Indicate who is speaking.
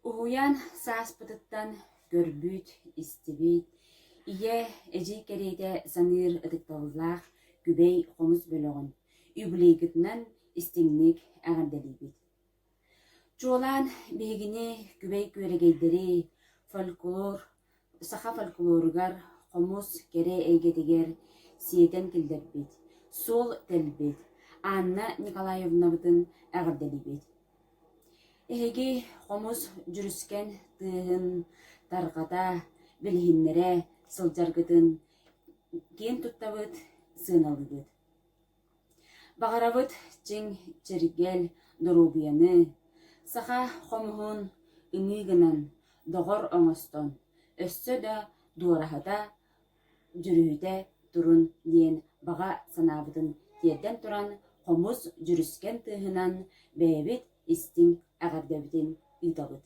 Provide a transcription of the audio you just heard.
Speaker 1: Уһуйаан сааспытыттан көрбүт, истибит, ийэ, эдьиий кэриэтэ саныыр ытыкталлаах күбэй хомус бөлөҕүн юбилейгытынан истиҥник эҕэрдэлиибит! Чуолаан биһигини күбэй күөрэгэйдэри, фольклор, саха фольклоругар, хомус, кэрэ эйгэтигэр сиэтэн киллэрбит, суол тэлбит Анна Николаевнабытын эҕэрдэлиибит! Эһиги хомус дьүрүскэн тыаһын тарҕата, билиһиннэрэ сылдьаргытын киэн туттабыт, сыаналыыбыт Баҕарабыт чиҥ чэргэл доруобуйаны, саха хомуһун ымыы гынан, доҕор оҥостон, өссө да дуораһыта, дьүрүһүтэ турун диэн баҕа санаабытын тиэрдэн туран, хомус дьүрүскэн тыаһынан бэйэбит истиҥ эҕэрдэбитин ыытабыт